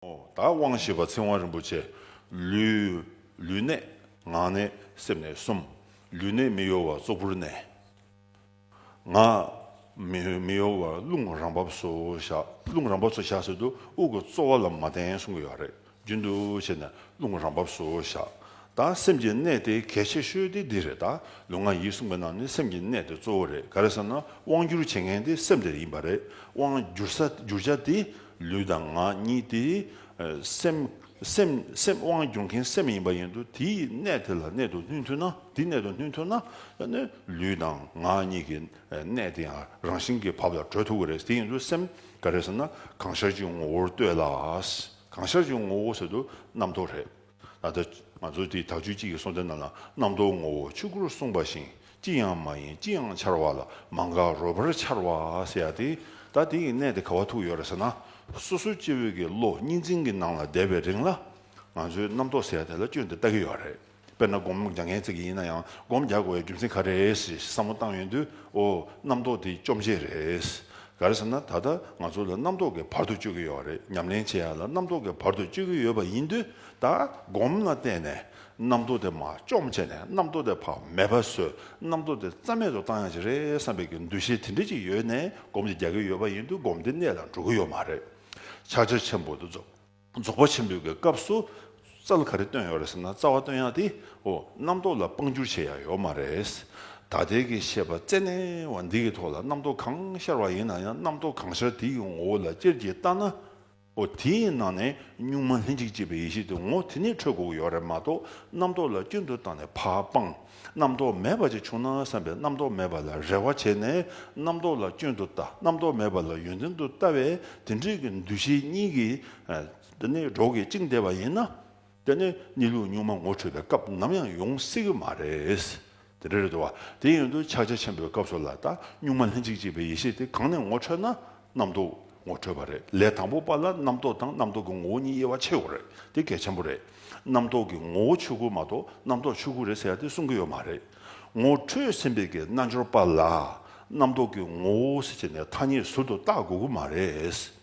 བདག་དབང་ཞེས་པ་ཚིག་དབང་རིན་པོ་ཆེ། ལུས། ལུས་གནད། ངག་གནད། སེམས་གནད་གསུམ། ལུས་གནད་མི་གཡོ་བ་ཙོག་པུར་གནས། ངག། མི་གཡོ་བ་རླུང་རང་བབས་སུ་བཞག་རླུང་རང་བབས་སུ་བཞག་ཟེར་དུས་དབུགས་ཀྱི་རྩོལ་བ་ལ་མ་བརྟེན་གསུང་གི་ཡོད་རེད་རྒྱུན་དུ་བྱས་ནས་རླུང་རང་བབས་སུ་བཞག་ད་སེམས་ཀྱི་གནད་དེ་གལ་ཆེ་ཤོས་དེ་འདི་རེད་ད་ལུས་ངག་ཡིད་གསུམ་གྱི་ནང་ནས་སེམས་ཀྱི་གནད་དེ་གཙོ་བོ་རེད་ག་རེ་ཟེར་ན་དབང་བསྒྱུར་བྱེད་མཁན་དེ་སེམས་དེ་ཡིན་པ་རེད་དབང་བསྒྱུར་བྱ་དེ། ལུས་དང་ངག་གཉིས་ཏེ། སེམས། སེམས། དབང་སྒྱུར་མཁན་སེམས་ཡིན་པ་ཡིན་དུ་དེའི་གནད་དེ་ལ་གནད་དུ་སྣུན་ཐུབ་ན་དེ་གནད་དུ་སྣུན་ཐུབ་ན། ལུས་དང་ངག་གཉིས་ཀྱི་གནད་དེ་ཡང་རང་བཞིན་གྱིས་བབ་ལ་གྲོལ་ཐུབ་ཀྱི་རེད་དེ་ཡིན་དུ་སེམས་ག་རེ་ཟེར་ན་གང་ཤར་གྱི་ངོ་བོར་ལྟོས་ལ། གང་ཤར་གྱི་ངོ་བོ་ཟེར་དུ་རྣམ་རྟོག་རེད། ད་ལྟ་ང་ཚོ་དེ་དག་ཆོས་གཅིག་གི་གསུང་སྟེ་རྣམས་ལ་རྣམ་རྟོག་ངོ་བོ་ཆོས་སྐུར་གསུངས་པ་བཞིན་ཅི་ཡང་མ་ཡིན་ཅི་ཡང་འཆར་བ་ལ་མ་འགགས་རོལ་པར་འཆར་བ་ཟེར་ཡ་དེ་ད་དེ་ཡི་གནད་དེ་ག་བ་ཐུག་ཡོད་རེད་ཟེར་ན་སོ་སོའི་སྐྱེ་བོའི་དགེ་བློ་གཉིས་འཛིན་གྱི་ནང་ལ་བསྡད་པའི་རིང་ལ་ང་ཚོའི་རྣམ་རྟོག་ཟེར་དེ་ལ་སྐྱོན་དེ་ལྟ་གི་ཡོད་རེད་དཔེར་ན་སྒོམ་རྒྱག་མཁན་ཚིག་གི་ཡིན་ན་ཡང་སྒོམ་རྒྱག་དགོས་བའི་རྒྱུ་མཚན་ག་རེད་ཞེས་བསམ་བློ་བཏང་ཡོང་དུས་འོ་རྣམ་རྟོག་དེ་བཅོམ་བྱེད་རེད་ག་རེ་བསམ་ན་ད་ལྟ་ང་ཚོ་ལ་རྣམ་རྟོག་གི་བར་དོ་གཅོད་ཀྱི་ཡོད་རེད་ཉམས་ལེན་བྱེད་ཡ་ལ་རྣམ་རྟོག་གི་བར་དོ་གཅོད་ཀྱི་ཡོད་པ་ཡིན་དུས་ད་སྒོམ་ལ་བརྟེན་ནས་རྣམ་རྟོག་དེ་མ་བཅོམ་བྱས་ནས་རྣམ་རྟོག་དེ་བག་མེད་པ་བཟོས་རྣམ་རྟོག་དེ་རྩ་མེད་དུ་བཏང་ཡང་ཅི་རེད་བསམ་པའི་གི་འདུ་ཤེས་དེ་འདྲས་ཅིག་ཡོད་ནས་སྒོམ་དེ་རྒྱག་གི་ཡོད་པ་ཡིན་དུས་སྒོམ་དེ་གནད་ལ་འགྲོ་གི་ཡོད་མ་རེད་ཕྱག་རྒྱ་ཆེན་པོ་དུ་རྫོགས། རྫོགས་པ་ཆེན་པོའི་གི་སྐབས་སུ། རྩ་ལ་ག་རེ་བཏོན་ཡོད་རེད་ཟེར་ན་རྩ་བ་བཏོན་ཡག་དེ་འོ། རྣམ་རྟོག་ལ་དཔང་བསྒྱུར་བྱེད་ཡག་ཡོད་མ་རེད། ད་ལྟའི་གི་བཤད་པ་རྩལ་གནས་བ་འདི་གི་ཐོག་ལ་རྣམ་རྟོག་གང་ཤར་བ་ཡིན་ན་ཡང་རྣམ་རྟོག་གང་ཤར་དེ་གི་ངོ་བོ་ལ་ཅེར་གྱིས་བལྟ་ན་འོ། དེའི་ནང་ནས་གཉུག་མ་ལྷན་ཅིག་སྐྱེས་པའི་ཡེ་ཤེས་དེ་ངོ་དེ་ནས་འཕྲོས་དགོས་ཀྱི་ཡོད་རེད་མ་གཏོགས་རྣམ་རྟོག་ལ་སྐྱོན་དུ་བཏང་ནས་བག་སྤངས། རྣམ་རྟོག་མེད་པ་ཅིག་བྱུང་ན་བསམ་པས་རྣམ་རྟོག་མེད་པ་ལ་རེ་བ་བྱས་ནས་རྣམ་རྟོག་ལ་སྐྱོན་དུ་ལྟ་རྣམ་རྟོག་མེད་པ་ལ་ཡོན་ཏན་དུ་ལྟ་བས་དེ་འབྲེལ་གྱི་འདུ་ཤེས་གཉིས་ཀྱིས་ནི་གྲོགས་ཀྱིས་བཅིངས་བསྡད་པ་ཡིན་ན། དེ་ནི་གཉིད་ལུགས་གཉུག་མ་ངོ་འཕྲོད་པའི་སྐབས་ནམ་ཡང་ཡོང་སྲིད་ཀྱི་མ་རེད། དེ་འདྲ་རེད་དོ། དེ་ཡིན་དུ་ཕྱག་རྒྱ་ཆེན་པོའི་སྐབས་སུ་ལ་དྭགས་གཉུག་མ་ལྷན་ཅིག་སྐྱེས་པའི་ཡེ་ཤེས་དེ་གང་ནས་ངོ་འཕྲོད་ན། རྣམ་རྟོག་ངོ་འཕྲོད་པ་རེད། ལས་དང་པོ་པ་ལ་རྣམ་རྟོག་དང་རྣམ་རྟོག་གི་ངོ་བོ་གཉིས་དབྱེ་བ་ཕྱེ་དགོས་རེད་དེ་གལ་ཆེན་པོ་རེད། རྣམ་རྟོག་གི་ངོ་བོ་ཆོས་སྐུ་མ་གཏོགས་རྣམ་རྟོག་ཆོས་སྐུ་རེད་ཟེར་ཡ་དེ་གསུང་གི་ཡོད་མ་རེད། ངོ་འཕྲོད་ཟིན་པའི་གི་རྣལ་འབྱོར་པ་ལ་རྣམ་རྟོག་གི་ངོ་བོ་ཟེར་བྱས་ནས་ཐ་སྙད་ཟུར་དུ་བཏགས་དགོས་ཀྱི་མ་རེད།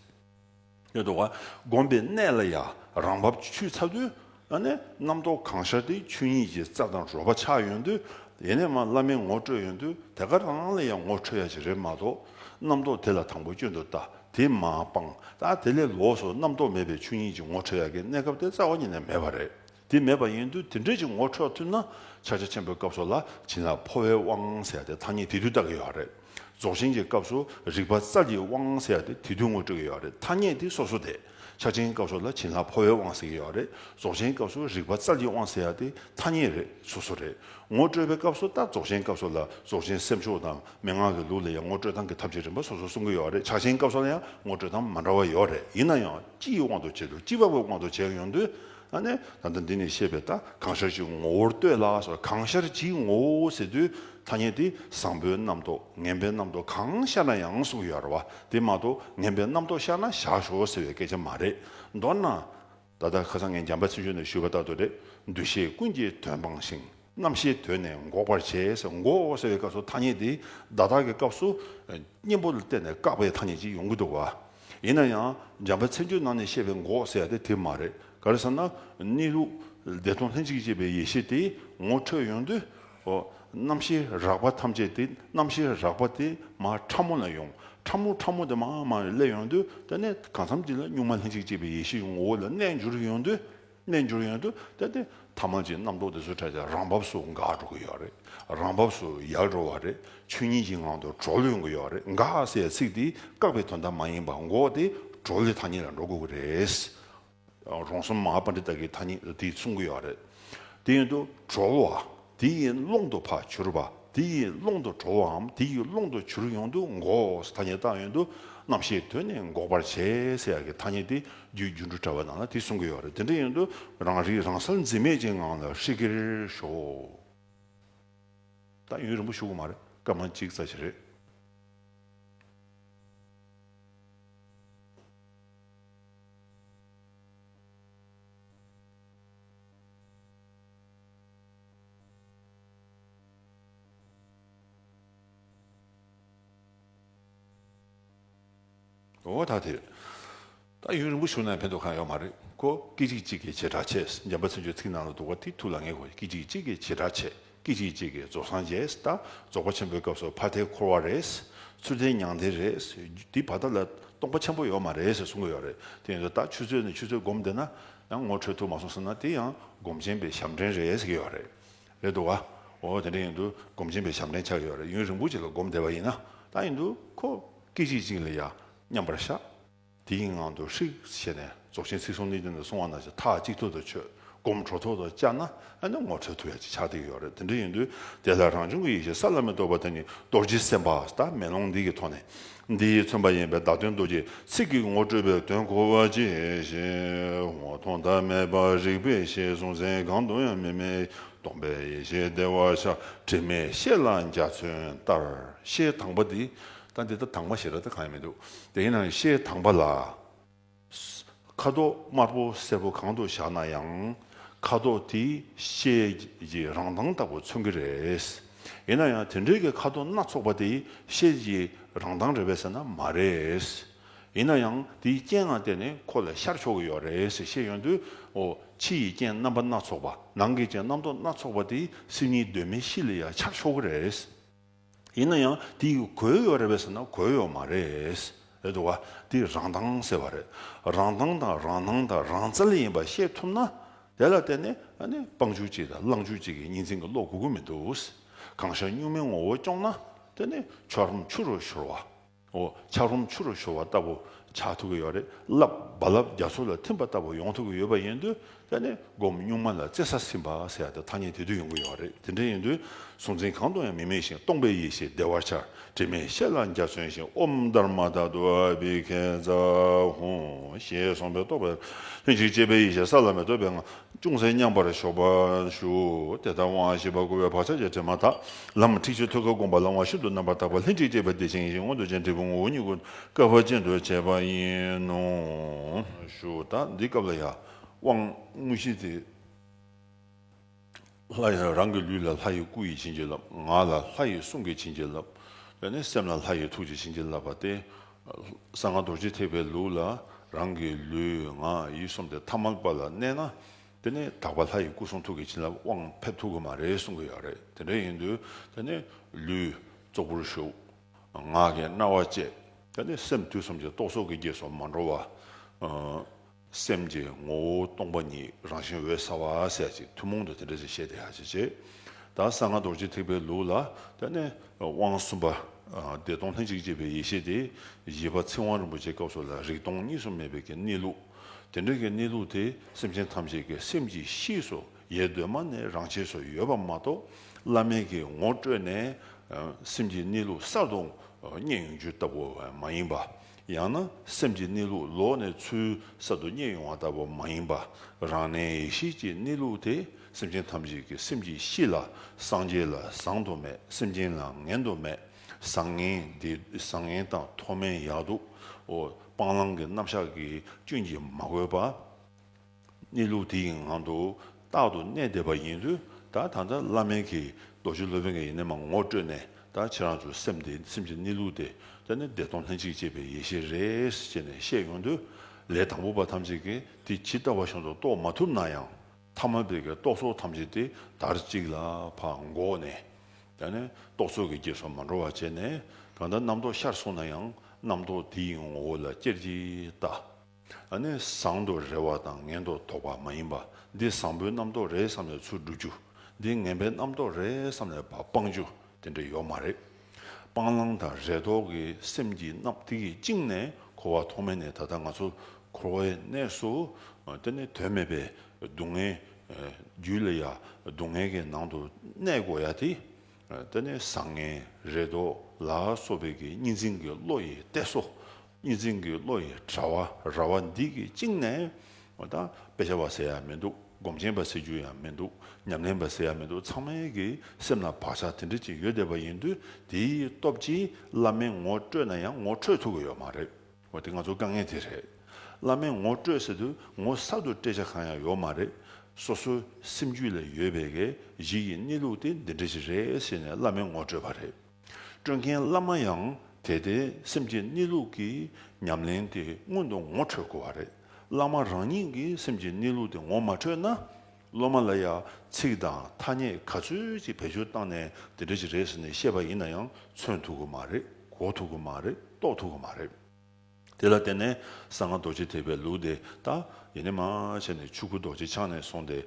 ཉོན་རྟོག་བསྒོམ་པའི་གནད་ལ་ཡང་རང་བབས་ཆུད་ཚ་དུས་ཨ་ནེ། རྣམ་རྟོག་གང་ཤར་དེའི་ཆོས་ཉིད་ཀྱི་རྩལ་དང་རོལ་པ་ཆགས་ཡོད་དུས། ཡེ་ནས་མ་བླ་མའི་ངོ་སྤྲོད་ཡོད་དུས་དེ་ག་རང་རང་ལ་ཡང་ངོ་འཕྲོད་ཡ་ཞིག་རེད་མ་གཏོགས། རྣམ་རྟོག་དེ་ལ་དང་པོ་སྐྱོན་དུ་ལྟ་དེ་མ་སྤང། ད་དེ་ལས་ལོགས་སུ་རྣམ་རྟོག་མེད་པའི་ཆོས་ཉིད་ཀྱི་ངོ་འཕྲོད་ཡ་གའི་གནས་སྐབས་དེ་རྩ་བ་ཉིད་ནས་མེད་པ་རེད། དེ་མེད་པ་ཡིན་དུས་དེ་འདྲས་ཀྱི་ངོ་འཕྲོད་ཐུབ་ན་ཕྱག་རྒྱ་ཆེན་པོའི་སྐབས་སོགས་ལ་བྱིན་རླབས་འཕོ་བའི་དབང་ཟེར་ཡ་དེ་ཐ་སྙད་དེ་དུས་ལྟ་གི་ཡོད་རེད། རྫོགས་ཆེན་གྱི་སྐབས་སུ་རིག་པ་རྩལ་གྱི་དབང་ཟེར་བ་དེ་དེ་དུས་ངོ་སྤྲོད་ཀྱི་ཡོད་རེད་ཐ་སྙད་དེ་སོ་སོ་དེ། ཕྱག་ཆེན་སྐབས་སུ་ལ་བྱིན་ལྷ་འཕོ་བའི་དབང་ཟེར་གྱི་ཡོད་རེད་རྫོགས་ཆེན་སྐབས་སུ་རིག་པ་རྩལ་གྱི་དབང་ཟེར་བ་དེ་ཐ་སྙད་རེད་སོ་སོ་རེད་ངོ་སྤྲོད་པའི་སྐབས་སུ་ལྟ་རྫོགས་ཆེན་སྐབས་སུ་ལ་རྫོགས་ཆེན་སེམས་ཕྱོགས་དང་མན་ངག་གི་ལུགས་ལ་ཡང་ངོ་སྤྲོད་སྟངས་ཀྱི་ཐབས་ཀྱི་རིམ་པ་སོ་སོ་གསུང་གི་ཡོད་རེད་ཕྱག་ཆེན་སྐབས་སུ་ལ་ཡང་ངོ་སྤྲོད་སྟངས་མ་འདྲ་བ་ཡོད་རེད་ཡིན་ན་ཡང་སྤྱི་ཡི་དབང་དུ་བྱས་དུས་སྤྱི་བབ་ཀྱི་དབང་དུ་བྱས་ཡོང་དུས། ཨ་ནི། ད་ལྟ་འདི་ནས་བཤད་པའི་ད་གང་ཤར་གྱི་ངོ་བོར་ལྟོས་ལ་སོགས་གང་ཤར་གྱི་ངོ་བོ་ཟེར་དུས་ཐ་སྙད་དེ་བཟང་པོའི་རྣམ་རྟོག་ངན་པའི་རྣམ་རྟོག་གང་ཤར་ན་ཡང་གསུངས་ཡོད་ར་བ་དེ་མ་གཏོགས་ངན་པའི་རྣམ་རྟོག་ཤར་ན་བཞག་ཞོག་ཟེར་བའི་སྐད་ཆ་མ་རེད། མདོར་ན། ད་ལྟ་ཁ་སང་ངས་འཇམ་པ་ཆེ་ཤོས་ནས་ཞུས་པ་ལྟར་དུ་རེད་འདུ་ཤེས་ཀུན་གྱི་དོན་སྤངས་ཤིང། རྣམ་ཤེས་དོད་ནས་འགོག་པར་བྱེད། འགོག་ཟེར་བའི་སྐབས་སུ་ཐ་སྙད་འདི་བརྡ་དག་གི་སྐབས་སུ་གཉེན་པོ་ལ་བརྟེན་ནས་བཀག་པའི་ཐ་སྙད་ཅིག་ཡོང་གི་འདུག་བ། ཡིན་ན་ཡང་འཇམ་པའི་ཚིག་འབྱོར་ནང་ནས་བཤད་པའི་འགོག་ཟེར་དེ་དེ་མ་རེད། ག་རེ་ཟེར་ན་གནས་ལུགས་བདེ་སྟོང་ལྷན་ཅིག་སྐྱེས་པའི་ཡེ་ཤེས་དེ་ངོ་འཕྲོད་ཡོང་དུས། རྣམ་ཤེས་རགས་པ་ཐམས་ཅད་དེ་རྣམ་ཤེས་རགས་པ་དེ་མ་ཕྲ་མོ་ལ་ཡོང། ཕྲ་མོ་ཕྲ་མོ་དེ་མ་མ་ལས་ཡོང་དུས་དེ་ནས་གང་འཚམ་གྱིས་ལ་གཉུག་མ་ལྷན་ཅིག་སྐྱེས་པའི་ཡེ་ཤེས་ཀྱི་ངོ་བོ་ལ་རྣལ་འབྱོར་ཡོང་དུས། གནས་འགྱུར་ཡོན་དུ་གཏད་དེ་ཐ་མ་ཅིག་རྣམ་རྟོག་དེ་ཚོའི་གྲལ་དེ་རང་བབས་སུ་འགག་འགྲོ་གི་ཡོད་རེད་རང་བབས་སུ་ཡལ་འགྲོ་བ་རེད་ཆོས་ཉིད་ཀྱི་ངང་དུ་གྲོལ་ཡོང་གི་ཡོད་རེད་འགག་ཟེར་ཚིག་དེ་བཀག་པའི་དོན་དག་མ་ཡིན་པར་འགོག་སྟེ་གྲོལ་བའི་ཐ་སྙད་ལ་འགྲོ་དགོས་ཀྱི་རེད། རོང་ཟོམ་མ་པ་འདི་དག་གིས་ཐ་སྙད་དེ་གསུང་གི་ཡོད་རེད་དེ་ཡོན་དུ་གྲོལ་བ། དེ་ཡི་ཀློང་དུ་ཕ་བྱུར་བ་དེ་ཡི་ཀློང་དུ་གྲོ་བོའམ་དེ་ཡི་ཀློང་དུ་བྱུར་ཡོངས་འདུ་འགོག་ཐ་སྙད་བཏགས་ཡོད་འདུག་རྣམ་ཤེས་དོན་ནི་འགོག་པར་བྱེད་ཟེར་ཡག་གི་ཐ་སྙད་དེ་རྒྱུའི་རྒྱུ་འབྲུ་བྲལ་བ་ནང་ན་དེ་གསུང་གི་ཡོད་རེད་དེ་འདྲ་ཡོད་འདུག་རང་རིག་རང་གསལ་འཛིན་མེད་ཅན་ངང་ལ་ཧྲིག་གེར་ཞོག། ད་ཡུན་རིང་པོ་བཞུགས་གི་མ་རེད་སྐར་མ་གཅིག་རྩ་ཆེ་རེད། འོ་ད་དེ་རེད། ད་ཡུན་རིང་པོ་བཞུགས་ན་ཕན་ཐོགས་གང་ཡོད་མ་རེད་ཀོ། སྐད་ཅིག་གཅིག་གི་བྱེ་བྲག་ཕྱེད་ཟེར་འཇམ་པ་ཚིག་མཆོག་ཚིག་ནང་ལ་འདུག་བ་དེ་ཐུགས་ལ་ངེས་དགོས་སྐད་ཅིག་གཅིག་གི་བྱེ་བྲག་ཕྱེད་སྐད་ཅིག་གཅིག་གིས་རྫོགས་སངས་རྒྱས་ད་རྫོགས་པ་ཆེན་པོའི་སྐབས་སུ་ཕ་མཐའི་འཁོར་བ་རེད། ཚུལ་ལྡན་མྱང་འདས་རེད། འདི་བར་ཐག་ལ་སྟོང་པ་ཆེན་པོ་ཡོད་མ་རེད་ཟེར་གསུང་གི་ཡོད་རེད་དེ་ཡིན་དུ་ད་ཆུ་ཚོད་ནས་ཆུ་ཚོད་བསྒོམ་བསྡད་ན། ཡང་ངོ་འཕྲོད་ཐུབ་མ་སོང་ཟེར་ན་དེ་ཡང་སྒོམ་ཆེན་པའི་ཞབས་འདྲེན་རེད་ཟེར་གྱི་ཡོད་རེད། རེད་འདུག་ག། འོ་དེ་འདྲ་ཡིན་དུས་སྒོམ་ཆེན་པའི་ཞབས་འདྲེན་ཆགས་ཀྱི་ཡོད་རེད་ཡུན་རིང་པོ་ཅིག་ལ་སྒོམ་བསྡད་པ་ཡིན་ན་ད་ཡིན་དུས་ཁོ་སྐད་ཅིག་གཅིག་ལ་ཡང་མཉམ་པར་བཞག་དེ་ཡི་ངང་དུ་ཧྲིག་བྱས་ནས་རྫོགས་ཆེན་ཚིག་གསུམ་གནད་ཀྱི་ནང་སོང་བ་ན་ཆ་ཐག་གཅིག་ཐོག་ཏུ་ཆོད་སྒོམ་གྲོ་ཐོག་ཏུ་བཅར་ན་ཨ་ནི་ངོ་འཕྲོད་ཐུབ་ཡག་ཅིག་ཆགས་བསྡད་ཀྱི་ཡོད་རེད་དེ་འདྲ་ཡིན་དུས་དེ་ལ་རང་བྱུང་གི་ཡེ་ཤེས་ས་བླ་མེད་རྟོགས་པ་དེ་ནི་རྡོ་རྗེ་སེམས་དཔའ་ཟླ་མེད་ལུང་འདི་གི་ཐོག་ནས་འདི་མཚོན་པ་ཡིན་པས་བདག་དོན་རྡོ་རྗེ་ཚིག་གི་ངོ་སྤྲོད་པའི་དོན་གོ་བ་ཇི་བཞིན་ངོ་མཐོང་ཟླ་མེད་པ་རིག་པའི་ཤེས་གསུང་མཚན་གང་དུ་ཡང་མི་མེད་སྟོང་པའི་ཡེ་ཤེས་བདེ་བ་ཆགས་དྲི་མེད་ཤེས་ལ་འཇའ་ཚོན་ལྟར་ཤེས་དྭངས་པ་འདི་ལྟ་འདི་ལྟ་དྭངས་མ་ཞེས་ལ་ལྟ་གང་ཡང་མི་འདུག་དེ་ཡིན་ནའང་ཤེས་དྭངས་པ་ལ། ཁ་དོག་དམར་པོ་སེར་པོ་གང་དུ་བཞག་ན་ཡང་ཁ་དོག་དེ་ཤེལ་གྱི་རང་མདངས་ལྟ་བུ་མཚོན་གྱི་རེད། ཡིན་ན་ཡང་དེ་འདྲའི་གི་ཁ་དོག་སྣ་ཚོགས་པ་དེ་ཤེལ་གྱི་རང་མདངས་རེད་པས་ཟེར་ན་མ་རེད། ཡིན་ན་ཡང་དེའི་རྐྱེན་ངང་སྟེ་ནས་ཁོ་ལ་ཤར་ཕྱོགས་ཀྱི་ཡོད་རེད་ཟེར་ཤེས་ཡོང་དུས། ཕྱི་ཡི་རྐྱེན་རྣམ་པ་སྣ་ཚོགས་པ་ནང་གི་རྐྱེན་རྣམ་རྟོག་སྣ་ཚོགས་པ་དེ་སེམས་ཉིད་གདོད་མའི་གཤིས་ལ་ཡང་འཆར་ཆོག་གི་རེད། ཡིན་ན་ཡང་དེ་གོལ་ཡོད་རེད་བས་ཟེར་ན་གོལ་ཡོད་མ་རེད། རེད་འདུག་ག་དེ་རང་མདངས་ཟེར་བ་རེད། རང་མདངས་དང་རང་སྣང་དང་རང་རྩལ་ཡིན་པ་ཤེས་ཐུབ་ན། དེ་ལ་བརྟེན་ནས་དཔང་ཆུ་གཅིག་དང་བླངས་ཆུ་གཅིག་གི་གཉིས་འཛིན་གྱི་བློ་གོ་གི་མི་འདུག་གང་ཤར་སྨྱུག་མའི་ངོ་བོ་སྐྱོང་ན། དེ་ནི་ཆོ་རོམ་ཆུ་རུ་ཤོར་བ། འོ་ཆག་རུམ་ཆུ་རུ་ཤོར་བ་ལྟ་བུ་ཆགས་ཐུབ་ཀྱི་ཡོད་རེད་རླབས་རྦ་རླབས་རྒྱ་མཚོ་ལ་ཐིམ་པ་ལྟ་བུ་ཡོང་ཐུབ་ཀྱི་ཡོད་པ་ཡིན་དུས་དེ་ནི་སྒོམ་སྙུག་མ་ལ་རྩེ་ས་ཟིན་པ་ཟེར་ཡག་ཏུ་ཐ་སྙད་དེ་དུས་ཡོང་གི་ཡོད་རེད་དེ་འདྲ་ཡིན་དུས་གཟུང་འཛིན་གང་དུ་ཡང་མི་དམིགས་ཤིང་སྟོང་པའི་ཡེ་ཤེས་བདེ་བར་འཆར་དྲི་མེད་ཤེས་ལ་འཇའ་ཚོན་བཞིན་དབུ་མཐར་མ་དག་ཏུ་ཨ་བྷི་གྷལ་ཛ་ཧཱུྃ་ཞེས་གསུངས་པའི་རྟོགས་པའི་ལྷན་ཅིག་སྐྱེས་པའི་ཡེ་ཤེས་ས་ལ་མི་ལྟོས་པའི་ངང་ཅུང་ཟད་མཉམ་པར་ཞོག་པར་ཞུ། དེ་ལྟར་དབང་བཞི་པ་བསྐུར་བའི་བག་ཆགས་ཀྱི་དྲི་མ་དག། ལམ་འཁྲིག་ཕྱིར་ཐོད་ཁ་བསྒོམ་པ་ལ་དབང་ཤིན་ཏུ་རྣམ་པར་དག་པ་ལྷན་ཅིག་སྐྱེས་པའི་བདེ་ཆེན་ཡེ་ཤེས་མངོན་དུ་བྱེད་འབྲས་བུ་ངོ་བོ་ཉིད་ཀུན་དགའ་བ་ཅན་དུ་བྱེད་པ་ཡིན་ནོ། ཞུ་དག་འདི་སྐབས་ལ་ཡང་དབང་དངོས་གཞི་སྟེ། ལྷ་ཡི་རང་གི་ལུས་ལ་ལྷ་ཡི་སྐུ་ཡིས་བྱིན་གྱིས་བརླབ། ངག་ལ་ལྷ་ཡི་གསུང་གིས་བྱིན་གྱིས་བརླབ། ལས་ནི་སེམས་ལ་ལྷ་ཡི་ཐུགས་ཀྱིས་བྱིན་གྱིས་བརླབ་པ་སྟེ། གསང་སྔགས་རྡོ་རྗེ་ཐེག་པའི་ལུགས་ལ་རང་གི་ལུས་ངག་ཡིད་གསུམ་སྟེ་ཐ་མལ་པ་ལ་གནས་ན། དེ་ནི་དག་པ་ལྷ་ཡི་སྐུ་གསུང་ཐུགས་ཀྱི་བྱིན་རླབས་དབང་ཕེབས་ཐུབ་ཀྱི་མ་རེད་གསུང་གི་ཡོད་རེད་དེ་འདྲ་ཡིན་དུས་དེ་ནི་ལུས་ཙོག་པུར་བཞུགས། ངག་གིས་རྣ་བ་གཅད། དེ་ནི་སེམས་དུས་གསུམ་གྱི་རྟོག་ཚོགས་ཀྱི་རྒྱས་སུ་མ་འགྲོ་བ། སེམས་ཀྱི་ངོ་བོ་སྟོང་པ་ཉིད་རང་བཞིན་འོད་གསལ་བ་གསལ་ཅིག་ཐུན་མོང་དུ་དེ་འདྲ་ཞིག་བཤད་དེ་ཧ་ཅང་ཆེ། ད་གསང་སྔགས་རྡོ་རྗེ་ཐེག་པའི་ལུགས་ལ་ལྟོས་ནས་དབང་གསུམ་པ། བདེ་སྟོང་ལྷན་ཅིག་སྐྱེས་པའི་ཡེ་ཤེས་དེ་བཞི་པ་ཚིག་དབང་རིན་པོ་ཆེ་སྐབས་སོགས་ལ་རིག་སྟོང་གཉིས་སུ་མེད་པའི་གི་གནས་ལུགས། དེ་འདྲ་གི་གནས་ལུགས་དེ་སེམས་ཅན་ཐམས་ཅད་ཀྱི་སེམས་ཀྱི་གཤིས་སུ་ཡལ་གདོད་མ་ནས་རང་ཆས་སུ་ཡོད་པ་མ་གཏོགས་བླ་མེད་ཀྱི་ངོ་སྤྲོད་ནས་སེམས་ཀྱི་གནས་ལུགས་གསར་དུ་རྙེད་ཡོང་རྒྱུ་ལྟ་བུ་བས་མ་ཡིན་པ་ཡང་ན་སེམས་ཀྱི་གནས་ལུགས་ལོག་ནས་ཚུལ་གསར་དུ་རྙེད་ཡོང་བ་ལྟ་བུ་མ་ཡིན་པར་རང་གནས་ཡེ་ཤེས་ཀྱི་གནས་ལུགས་དེ་སེམས་ཅན་ཐམས་ཅད་ཀྱི་སེམས་ཀྱི་གཤིས་ལ་སངས་རྒྱས་ལ་བཟང་དུ་མེད་སེམས་ཅན་ལ་ངན་དུ་མེད་བཟང་ངན་འདི་བཟང་ངན་དང་མཐོ་དམན་ཡག་སྡུག་སྤང་བླང་གི་རྣམ་གཞག་གིས་སྐྱོན་གྱིས་མ་གོས་པ། གནས་ལུགས་དེ་ཡི་ངང་དུ་རྟག་ཏུ་གནས་བསྡད་པ་ཡིན་དུས་ད་ད་ལྟ་བླ་མེད་ཀྱི་རྡོ་རྗེ་སློབ་དཔོན་གྱི་ཡི་གནས་མ་ངོ་སྤྲོད་ནས་ད་ཁྱེད་རང་ཚོའི་སེམས་དེ་སེམས་ཀྱི་གནས་ལུགས་དེ་ད་ནི་བདེ་སྟོང་ལྷན་ཅིག་སྐྱེས་པའི་ཡེ་ཤེས་རེད་ཅེས་ནས་བཤད་ཡོང་དུས་ལས་དང་པོ་པ་ཐམས་ཅད་ཀྱིས་དེ་ཇི་ལྟ་བ་བཞིན་དུ་རྟོགས་མ་ཐུབ་ན་ཡང་ཐ་མ་བེ་ཀའི་རྟོག་ཚོགས་ཐམས་ཅད་དེ་དར་ཅིག་ལ་ཕག་འགོག་ནས་ད་ནི་རྟོག་ཚོགས་ཀྱི་རྗེས་སུ་མ་འགྲོ་བ་བྱས་ནས་གང་ལྟར་རྣམ་རྟོག་ཤར་སོང་ན་ཡང་རྣམ་རྟོག་དེ་ཡི་ངོ་བོ་ལ་ཅེར་གྱིས་ལྟ། ཨ་ནི་བཟང་དུ་རེ་བ་དང་ངན་དུ་དོགས་པ་མ་ཡིན་པ། འདི་བཟང་པོའི་རྣམ་རྟོག་རེད་བསམ་ནས་ཚུར་བསྒྲུབ་རྒྱུ། འདི་ངན་པའི་རྣམ་རྟོག་རེད་བསམ་ནས་བ་སྤང་རྒྱུ་དེ་འདྲ་ཡོག་མ་རེད། སྤང་བླང་དང་རེ་དོགས་ཀྱི་སེམས་ཀྱི་སྣབས་དེ་གིས་བཅིངས་ནས་འཁོར་བ་ཐོག་མེད་ནས་ད་ལྟ་ང་ཚོ་འཁོར་བའི་གནས་སུ་དེ་ནི་དོན་མེད་པའི་སྡུག་བསྔལ་རྒྱུ་ལས་ཡ་སྡུག་བསྔལ་གྱི་ནང་དུ་གནས་དགོས་ཡ་དེ་དེ་ནི་བཟང་ངན་རེ་དོགས་ལ་སོགས་པའི་གི་གཉིས་འཛིན་གྱི་བློ་ཡིས་བལྟས་སོ། གཉིས་འཛིན་གྱི་བློ་ཡི་དྲ་བ་ར་བ་འདི་གིས་བཅིངས་ནས་ད་དཔེ་ཆ་བ་ཟེར་ཡ་མི་འདུག་སྒོམ་ཆེན་པ་ཟེར་རྒྱུ་ཡང་མི་འདུག་ཉམས་ལེན་པ་ཟེར་ཡ་མི་འདུག་ཚང་མའི་གི་སེམས་ལ་བག་ཆགས་དེ་འདྲ་ཅིག་ཡོད་བསྡད་པ་ཡིན་དུས་དེའི་སྟོབས་ཀྱིས་བླ་མའི་ངོ་སྤྲོད་ན་ཡང་ངོ་འཕྲོད་ཐུབ་གི་ཡོད་མ་རེད། འོ་དེ་ང་ཚོ་དཀའ་ངལ་དེ་རེད། བླ་མའི་ངོ་སྤྲོད་ཟེར་དུས་ངོ་གསར་དུ་སྤྲད་བྱ་གང་ཡང་ཡོད་མ་རེད། སོ་སོའི་སེམས་རྒྱུད་ལ་ཡོད་པའི་གི་གཞི་ཡི་གནས་ལུགས་དེ་འདི་འདྲ་ཞིག་རེད་ཟེར་ནས་བླ་མའི་ངོ་སྤྲོད་པ་རེད། སྤྲོད་མཁན་བླ་མ་ཡང་དེ་ལྟའི་སེམས་ཀྱི་གནས་ལུགས་ཀྱི་ཉམས་ལེན་དེ་སྔོན་དུ་ངོ་འཕྲོད་དགོས་བ་རེད། བླ་མ་རང་ཉིད་ཀྱི་སེམས་ཀྱི་གནས་ལུགས་དེ་ངོ་མ་འཕྲོད་ན། སློབ་མ་ལ་ཡང་ཚིག་དང་ཐ་སྙད་ག་ཚོད་ཅིག་བེད་སྤྱོད་བཏང་ནས་དེ་འདྲ་ཞིག་རེད་ཟེར་ནས་བཤད་པ་ཡིན་ན་ཡང་མཚོན་ཐུབ་ཀྱི་མ་རེད་གོ་ཐུབ་ཀྱི་མ་རེད་རྟོགས་ཐུབ་ཀྱི་མ་རེད། དེ་ལ་བརྟེན་ནས་གསང་སྔགས་རྡོ་རྗེ་ཐེག་པའི་ལུགས་དེ་ལྟར་ཡེ་ནས་མ་བྱས་ནས་ཆོས་སྐུ་རྡོ་རྗེ་འཆང་ནས་བཟུང་སྟེ་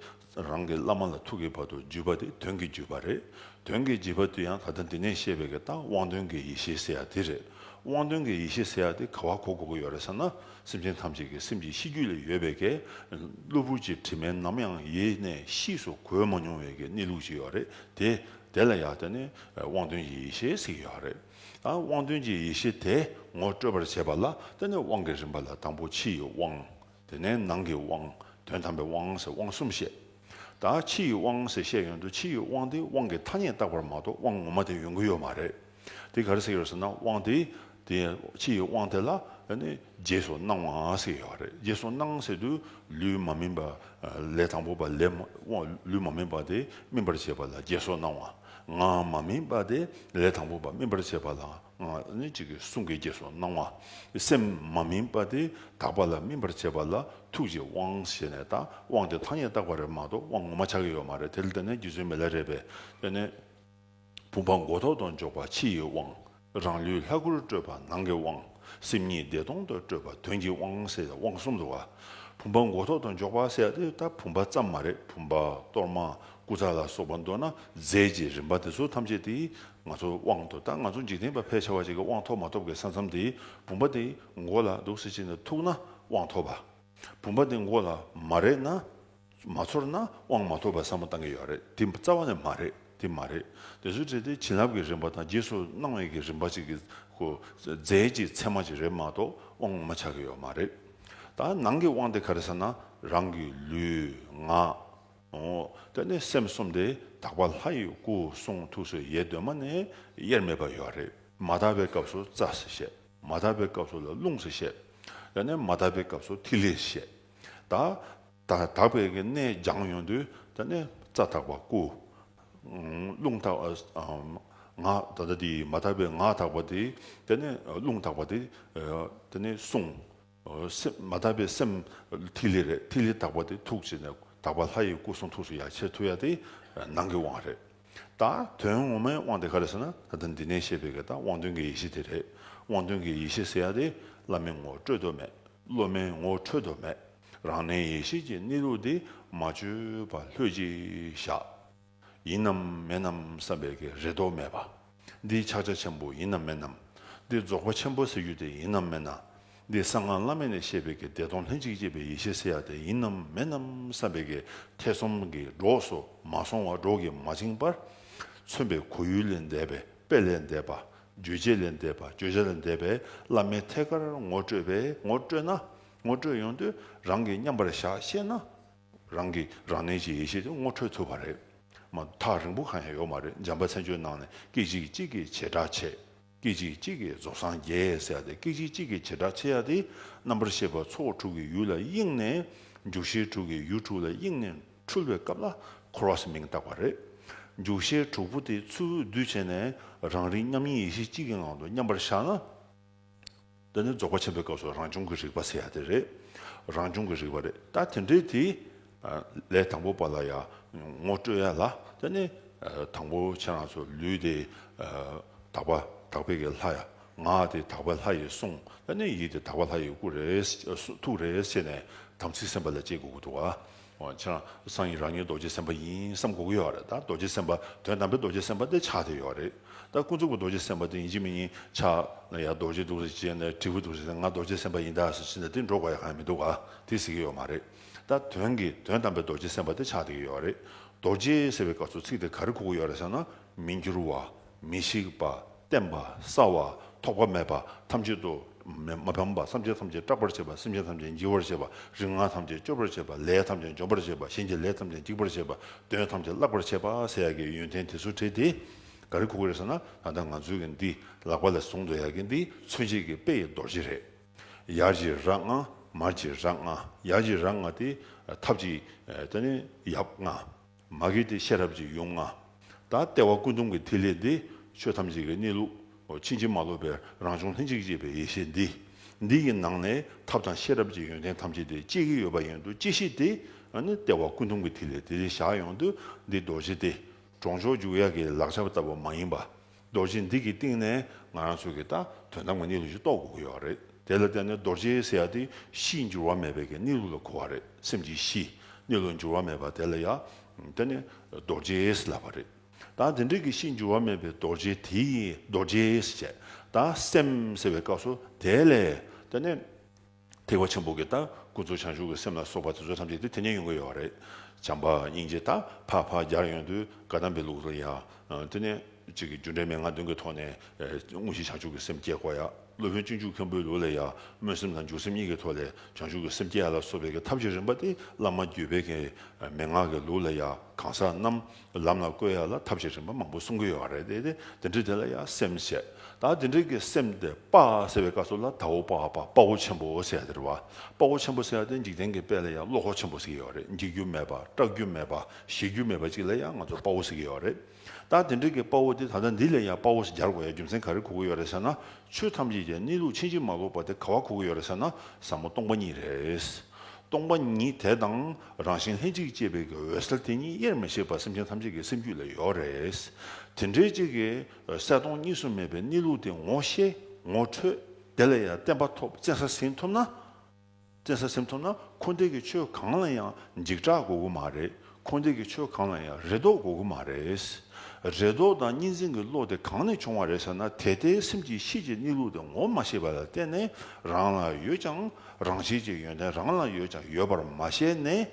རང་གི་བླ་མ་ལ་ཐུག་གི་བར་དུ་བརྒྱུད་པ་དེ་དོན་གྱི་བརྒྱུད་པ་རེད། དོན་གྱི་བརྒྱུད་པ་དེ་ཡང་ད་ལྟ་འདི་ནས་བཤད་པའི་གི་རྟགས་དབང་དོན་གྱི་ཡེ་ཤེས་ཟེར་ཡ་དེ་རེད། དབང་དོན་གྱི་ཡེ་ཤེས་ཟེར་ཡ་དེ་ག་བར་གོ་དགོས་ཀྱི་ཡོད་རེད་བསམ་ན་སེམས་ཅན་ཐམས་ཅད་ཀྱི་སེམས་ཀྱི་གཤིས་རྒྱུད་ལས་ཡོད་པའི་གི་གློ་བུར་གྱི་དྲི་མས་ནམ་ཡང་ཡེ་ནས་གཤིས་སུ་གོས་མ་མྱོང་བའི་གི་གནས་ལུགས་ཅིག་ཡོད་རེད་དེ། དེ་ལ་ཡང་བརྟེན་ནས་དབང་དོན་གྱི་ཡེ་ཤེས་ཟེར་གྱི་ཡོད་རེད། དབང་དོན་གྱི་ཡེ་ཤེས་དེས་ངོ་སྤྲོད་པར་བྱེད་པ་ལ་བརྟེན་ནས་དབང་གི་རིམ་པ་ལ་དང་པོ་ཕྱི་ཡི་དབང། དེ་ནས་ནང་གི་དབང། དོན་དམ་པའི་དབང་ཟེར་དབང་གསུམ་བཤད། ད་ཕྱི་ཡི་དབང་ཟེར་བཤད་ཡོན་དུ་ཕྱི་ཡི་དབང་དེ་དབང་གི་ཐ་སྙད་བཏགས་པར་མ་གཏོགས་དབང་ངོ་མ་དེ་ཡོང་གི་ཡོད་མ་རེད། དེ་ག་རེ་ཟེར་ཡོད་ཟེར་ན་དབང་དེ། དེ་ཕྱི་ཡི་དབང་དེ་ལ་རྗེས་སུ་གནང་བ་ཟེར་ཡོད་རེད་རྗེས་སུ་གནང་ཟེར་དུས་ལུས་མ་སྨིན་པ། ལས་དང་པོ་པ་ལས། ལུས་མ་སྨིན་པ་དེ་སྨིན་པར་བྱེད་པ་ལ་རྗེས་སུ་གནང་བ། ངག་མ་སྨིན་པ་སྟེ་ལས་དང་པོ་པ་སྨིན་པར་བྱེད་པ་ལ་ངག་ནི་གཅིག་གི་གསུང་གི་རྗེས་སུ་གནང་བ། སེམས་མ་སྨིན་པ་སྟེ་དག་པ་ལ་སྨིན་པར་བྱེད་པ་ལ་ཐུགས་རྗེ་དབང་ཞེས་ནས་དང་དབང་དེ་ཐ་སྙད་བཏགས་པ་རེད་མ་གཏོགས་དབང་ངོ་མ་ཆགས་ཀྱི་ཡོད་མ་རེད་དེ་ལྟ་ན་རྒྱུ་མཚན་མེད་ལ་རེད་པས་དེ་ནི་བུམ་པ་མགོ་ཐོག་ཏུ་འཇོག་པ་ཕྱི་ཡི་དབང། རང་ལུས་ལྷ་སྐུར་སྤྲོས་པ་ནང་གི་དབང། སེམས་ཉིད་བདེ་སྟོང་དུ་སྤྲོས་པ་དོན་གྱི་དབང་ཟེར་ཡང་དབང་གསུམ་དུའོ། བུམ་པ་མགོ་ཐོག་ཏུ་འཇོག་པ་ཟེར་ཡང་དེ་ལྟ་བུམ་པ་ཙམ་མ་རེད་བུམ་པ་གཏོར་མ་སྐུ་ཚ་ལ་སོགས་པ་མདོར་ན་རྫས་ཀྱི་རིམ་པ་དེ་ཚོ་ཐམས་ཅད་དེ་ང་ཚོ་དབང་དུ་ད་ང་ཚོ་འཇིག་རྟེན་པ་ཕལ་ཆེ་བ་ཅིག་གི་དབང་ཐོབ་མ་ཐོབ་ཀྱི་ས་མཚམས་དེ་བུམ་པ་དེ་མགོ་ལ་འདུག་ཟེར་ཅི་ནས་ཐུག་ན་དབང་ཐོབ་པ། བུམ་པ་དེ་མགོ་ལ་མ་རེད་ན། མ་ཚོར་ན་དབང་མ་ཐོབ་པར་བསམ་བློ་བཏང་གི་ཡོད་རེད་དེ་རྩ་བ་ནས་མ་རེད་དེ་མ་རེད་དེ་ཚོའི་གྲས་དེ་བྱིན་རླབས་ཀྱི་རིམ་པ་དང་རྗེས་སུ་གནང་བའི་གི་རིམ་པ་ཅིག་གི་གོ་རྫས་ཀྱི་ཚད་མ་ཅིག་རེད་མ་གཏོགས་དབང་ངོ་མ་ཆགས་ཀྱི་ཡོད་མ་རེད། ད་ནང་གི་དབང་དེ་ག་རེ་ཟེར་ན་རང་གི་ལུས་ངག། དེ་ནས་སེམས་གསུམ་དེ་དག་པ་ལྷ་ཡི་སྐུ་གསུང་ཐུགས་སུ་ཡེ་གདོད་མ་ནས་དབྱེར་མེད་པ་ཡོད་རེད། མ་དག་པའི་སྐབས་སུ་རྩ་ཟེར་བཤད། མ་དག་པའི་སྐབས་སུ་ལ་རླུང་ཟེར་བཤད། ཡང་ན་མ་དག་པའི་སྐབས་སུ་ཐིག་ལེ་ཟེར་བཤད། དང། དག་པའི་གནས་སྦྱང་ཡོན་དུ་ནི་རྩ་དག་པ་སྐུ། རླུང་དག་པ་ངག་ད་ལྟ་དེ་མ་དག་པའི་ངག་དག་པ་དེ་ནི་རླུང་དག་པ་དེ་ནི་གསུངས། སེམས་མ་དག་པའི་སེམས་ཐིག་ལེ་རེད་ཐིག་ལེ་དག་པ་དེ་ཐུགས་རྗེ་ནས་དག་པ་ལྷ་ཡི་སྐུ་གསུང་ཐུགས་སུ་ཡ་ཆེ་མཐུ་ཡ་དེ་ནང་གི་དབང་རེད། ད་དོན་ངོ་མའི་དབང་དེ་ག་རེད་ཟེར་ན་ད་ལྟ་འདི་ནས་བཤད་པའི་གེ་དང་དབང་དོན་གྱི་ཡེ་ཤེས་དེ་རེད། དབང་དོན་གྱི་ཡེ་ཤེས་ཟེར་ཡ་དེ་བླ་མའི་ངོ་སྤྲོད་དུ་མེད། སློབ་མའི་ངོ་འཕྲོད་དུ་མེད། རང་གནས་ཡེ་ཤེས་ཀྱི་གནས་ལུགས་དེ་མ་བཅོས་པ་ལྷོད་ཅིག་བཞག། ཡིན་ནམ་མེད་ནམ་བསམ་པའི་གེ་རེ་དོགས་མེད་པ། འདི་ཕྱག་རྒྱ་ཆེན་པོ་ཡིན་ནམ་མིན་ནམ། འདི་རྫོགས་པ་ཆེན་པོ་ཟེར་རྒྱུ་དེ་ཡིན་ནམ་མིན་ནམ། འདི་གསང་སྔགས་བླ་མེད་ནས་བཤད་པའི་གི་བདེ་སྟོང་ལྷན་ཅིག་སྐྱེས་པའི་ཡེ་ཤེས་ཟེར་ཡག་དེ་ཡིན་ནམ་མིན་ནམ་བསམ་པའི་གི་ཐེ་ཚོམ་གི་གྲོགས་སུ་མ་སོང་བར་གྲོགས་ཀྱིས་མ་བཅིངས་པར། མཚོན་པའི་གོ་ཡུལ་ལས་འདས་པའི་དཔེ་ལས་འདས་པ། རྗོད་བྱེད་ལས་འདས་པ་བརྗོད་བྱ་ལས་འདས་པའི་བླ་མའི་ཐད་ཀར་ངོ་སྤྲོད་པས་ངོ་སྤྲོད་ན། ངོ་སྤྲོད་ཡོང་དུས་རང་གིས་མཉམ་པར་བཞག་ཤེས་ན། རང་གི་རང་གནས་ཀྱི་ཡེ་ཤེས་དེ་ངོ་འཕྲོད་ཐུབ་པ་རེད། མ་ཐག་རིང་པོ་གང་ཡང་ཡོད་མ་རེད་འཇམ་པ་ཚན་ཆུང་ནང་ནས་སྐད་ཅིག་གཅིག་གིས་བྱེ་བྲག་ཕྱེ། སྐད་ཅིག་གཅིག་གིས་རྫོགས་སངས་རྒྱས་ཟེར་ཡག་དེ་སྐད་ཅིག་གཅིག་གིས་བྱེ་བྲག་ཕྱེ་ཡག་དེ་རྣམ་པར་ཤེས་པ་ཚོགས་དྲུག་གི་ཡུལ་ལ་གཡེང་ནས་འཇུག་ཤེས་དྲུག་གི་ཡུལ་དྲུག་ལ་གཡེང་ནས་འཁྲུལ་བའི་སྐབས་ལ་འཁོར་བ་ཟེར་མིང་བཏགས་པ་རེད། འཇུག་ཤེས་དྲུག་པོ་དེ་ཚུར་འོད་བསྡུ་བྱས་ནས་རང་རིག་མཉམ་ཉིད་ཡེ་ཤེས་གཅིག་གི་ངང་དུ་མཉམ་པར་བཞག་ན། འདི་ནི་རྫོགས་པ་ཆེན་པོའི་སྐབས་སུ་རང་བྱུང་གི་རིག་པ་ཟེར་ཡ་དེ་རེད། རང་བྱུང་གི་རིག་པ་རེད། ད་དེ་འདྲའི་དེ་ལས་དང་པོ་པ་ལ་ཡང་ངོ་སྤྲོད་ཡ་ལ་དེ་ནི་དང་པོ་ཁྱེད་རང་ཚོ་ལུས་དེ་དག་པ་དག་པའི་གི་ལྷ་ཡ་ངག་དེ་དག་པའི་ལྷ་ཡི་གསུང་དེ་ནི་ཡིད་དེ་དག་པ་ལྷ་ཡི་སྐུ་རེད་ཐུགས་རེད་ཟེར་ནས་དམ་ཚིག་སེམས་པ་ལ་སྤྱད་དགོས་ཀྱི་འདུག་ཨ། ཁྱེད་རང་སང་ཉིན་རང་ཉིད་རྡོ་རྗེ་སེམས་དཔའ་ཡིན་བསམ་གོ་གི་ཡོད་རེད་ད་རྡོ་རྗེ་སེམས་དཔའ་དོན་དམ་པའི་རྡོ་རྗེ་སེམས་དཔའ་དེ་ཕྱག་དེ་ཡོད་རེད་ད་ཀུན་རྫོབ་ཀྱི་རྡོ་རྗེ་སེམས་དཔའ་དེ་ཡིན་གྱི་མི་ཡིན་ཕྱག་ན་ཡར་རྡོ་རྗེ་འདུག་རེད་ཅེས་ནས་དྲིས་པོ་འདུག་རེད་ང་རྡོ་རྗེ་སེམས་དཔའ་ཡིན་ད་ཟེར་ཕྱིན་ན་དེ་འགྲོ་དགོས་ཡ་གང་ཡང་མི་འདུག་ག་དེ་ཟེར་གྱི་ཡོད་མ་རེད་ད་དོན་གི་དོན་དམ་པའི་རྡོ་རྗེ་སེམས་དཔའ་དེ་ཕྱག་དེ་གི་ཡོད་རེད་རྡོ་རྗེ་ཟེར་བའི་སྐབས་སུ་ཚིག་དེ་ག་རེ་གོ་གི་ཡོད་རེད་ཟེར་ན་མི་འགྱུར་བ་མི་ཤིགས་པ། བརྟན་པ། སྲ་བ། ཐོགས་པ་མེད་པ། ཐམས་ཅད་དུ། མ་ཕམ་པ། བསམ་བྱ་ཐམས་ཅད་སྐྲག་པར་བྱེད་པ། སེམས་ཅན་ཐམས་ཅད་འཇིགས་པར་བྱེད་པ། རིག་སྔགས་ཐམས་ཅད་སྤྱོད་པར་བྱེད་པ། ལས་ཐམས་ཅད་འཇོམས་པར་བྱེད་པ། གཞན་གྱི་ལས་ཐམས་ཅད་འཇིགས་པར་བྱེད་པ། གདོན་ཐམས་ཅད་བརླག་པར་བྱེད་པ། ཟས་ཡག་གི་ཡོན་ཏན་དེ་ཚུར་དྲིལ་ཏེ། ག་རེ་ཁུག་གི་རེད་ཟེར་ན། ད་ལྟ་ང་ཚོའི་གི་འདི། ལག་པ་ལས་བཟུང་དུ་ཡག་གི་འདི། མཚོན་བྱེད་ཀྱི་དཔེ་ཡི་རྡོ་རྗེ་རེད། ཡར་གྱི་རྭ་ལྔ། མར་གྱི་རྭ་ལྔ། ཡར་གྱི་རྭ་ལྔ་སྟེ། ཐབས་ཀྱི། ཡབ་ལྔ། མ་གིས་ཏེ་ཤེས་རབ་ཀྱི་ཡུམ་ལྔ། ད་ལྟེ་བ་ཀུན་སྟོང་གི་ཐིག་ལེ་འདི། ཆོས་ཐམས་ཅད་ཀྱི་གནས་ལུགས། ཕྱིན་ཅི་མ་ལོག་པའི་རང་བྱུང་ལྷན་ཅིག་སྐྱེས་པའི་ཡེ་ཤེས་འདི། འདི་ཡི་ནང་ནས་ཐབས་དང་ཤེས་རབ་ཀྱི་ཡོན་ཏན་ཐམས་ཅད་དེ་གཅིག་གིས་ཡོད་པ་ཡིན་དུ་ཅི་ཤེས་ཏེ། ནི་ལྟེ་བ་ཀུན་སྟོང་གི་ཐིག་ལེ་དེ་བཞག་ཡོང་དུས་འདི་རྡོ་རྗེ་སྟེ། གྲོང་ཆོག་འཇུག་ཡག་གི་ལག་ཆ་ལྟ་བུ་མ་ཡིན་པ། རྡོ་རྗེ་འདི་གི་སྟེང་ནས་ང་རང་ཚོ་གིས་ད་དོན་དམ་གྱི་གནས་ལུགས་ཤིག་རྟོགས་དགོས་ཀྱི་ཡོད་རེད། དེ་ལ་བརྟེན་ནས་རྡོ་རྗེ་ཟེར་ཡ་དེ་གཤིས་འགྱུར་བ་མེད་པའི་གནས་ལུགས་ལ་གོ་བ་རེད་སེམས་ཀྱི་གཤིས་གནས་ལུགས་འགྱུར་བ་མེད་པ་དེ་ལ་ཡ་དེ་ནི་རྡོ་རྗེས་ལབ་པ་རེད། ད་དེ་འདྲའི་གི་གཤིས་འགྱུར་བ་མེད་པའི་རྡོ་རྗེ་དེ་ཡིས་རྡོ་རྗེས་བྱས་ད་སེམས་ཟེར་བའི་སྐབས་སུ་དེ་ལས་དེ་ནི། ཐེག་པ་ཆེན་པོ་གྱི་རྟགས་ཀུན་རྫོབ་བྱང་ཆུབ་ཀྱི་སེམས་ལ་སོགས་པ་དེ་ཚོ་ཐམས་ཅད་དེ་དེ་ནས་ཡོང་གི་ཡོད་པ་རེད། བྱམས་པ་སྙིང་རྗེ་དག་འཕགས་འཕགས་རྒྱར་ཡོང་དུས་བཀའ་གདམས་པའི་ལུགས་རེད་ཡ། དེ་ནས། གཅིག་གི་རྒྱུ་འབྲས་མན་ངག་བདུན་གྱི་ཐོག་ནས། དངོས་གཞི་བྱང་ཆུབ་ཀྱི་སེམས་བསྐྱེད་དགོས་ཡ། སློབ་དཔོན་སྤྱི་འཇུག་མཁན་པོའི་ལུགས་ལས་ཡ། སྨོན་སེམས་དང་འཇུག་སེམས་གཉིས་ཀྱི་ཐོག་ལས་བྱང་ཆུབ་ཀྱི་སེམས་བསྐྱེད་ཡ་ལ་སོགས་པའི་ཐབས་ཀྱི་རིམ་པ་དེ་བླ་མ་བརྒྱུད་པའི་གི་མན་ངག་གི་ལུགས་ལས་ཡ། གང་ཟག་རྣམས། ལམ་ལ་བཀོད་ཡག་ལ་ཐབས་ཤེས་རིམ་པ་མང་པོ་གསུང་གི་ཡོད་པ་རེད་དེ། དེ་འདྲའི་དེ་ལ་ཡང་སེམས་བྱེད། ད་དེ་འདྲའི་གི་སེམས་དེ་དཔའ་ཟེར་བའི་བཀའ་སོགས་ལ་དྭོགས་དཔའ་དཔའ་བོ་ཆེན་པོ་ཟེར་ཡག་དེ་རེད་བ། དཔའ་བོ་ཆེན་པོ་ཟེར་ཡག་དེ་འཇིག་རྟེན་གི་དཔལ་ལ་ཡང་བློ་ཁོག་ཆེན་པོ་ཟེར་གི་ཡོད་རེད་འཇིག་རྒྱུ་མེད་པ་སྐྲག་རྒྱུ་མེད་པ་གཞེས་རྒྱུ་མེད་པ་ཅིག་ལ་ཡང་ང་ཚོ་དཔའ་བོ་ཟེར་གི་ཡོད་རེད། ད་དེ་འདྲའི་གི་དཔའ་བོ་དེ་ད་ལྟ་འདི་ལས་ཡང་དཔའ་བོ་ཞིག་སྦྱར་དགོས་ཡ་རྒྱུ་མཚན་ག་རེ་གོ་གི་ཡོད་རེད་ཟེར་ན་ཆོས་ཐམས་ཅད་ཀྱི་གནས་ལུགས་ཕྱིན་ཅི་མ་ལོག་པ་དེ་ག་བ་གོ་གི་ཡོད་རེད་ཟེར་ན་ཟབ་མོ་སྟོང་པ་ཉིད་རེད། སྟོང་པ་ཉིད་དེ་དང། རང་བཞིན་ལྷན་ཅིག་སྐྱེས་པའི་གི་འོད་གསལ་དེ་ཉིད་དབྱེར་མི་ཕྱེད་པར་སེམས་ཅན་ཐམས་ཅད་ཀྱི་སེམས་རྒྱུད་ལ་ཡོད་རེད། དེ་འདྲའི་གཅིག་གི་འོད་གསལ་སྟོང་གཉིས་སུ་མེད་པའི་གནས་ལུགས་དེ་ངོ་ཤེས་ངོ་འཕྲོད་དེ་ལ་ཡང་བརྟན་པ་ཐོབ་བཙན་ས་ཟིན་ཐུབ་ན། བཙན་ས་ཟིན་ཐུབ་ན་འཁོར་འདས་ཀྱི་ཆོས་གང་ལ་ཡང་འཇིགས་སྐྲག་དགོས་གི་མ་རེད་འཁོར་འདས་ཀྱི་ཆོས་གང་ལ་ཡང་རེ་དོགས་དགོས་གི་མ་རེད། རེ་དོགས་དང་གཉིས་འཛིན་གྱི་བློ་དེ་གང་ནས་བྱུང་བ་རེད་ཟེར་ན་དེ་ལྟའི་སེམས་ཀྱི་གཤིས་ཀྱི་གནས་ལུགས་དེ་ངོ་མ་ཤེས་པ་ལ་བརྟེན་ནས་རང་ལ་ཡོད་ཀྱང་རང་བཞིན་གྱི་ཡོན་ཏན་རང་ལ་ཡོད་ཀྱང་ཡོད་པར་མ་ཤེས་ནས།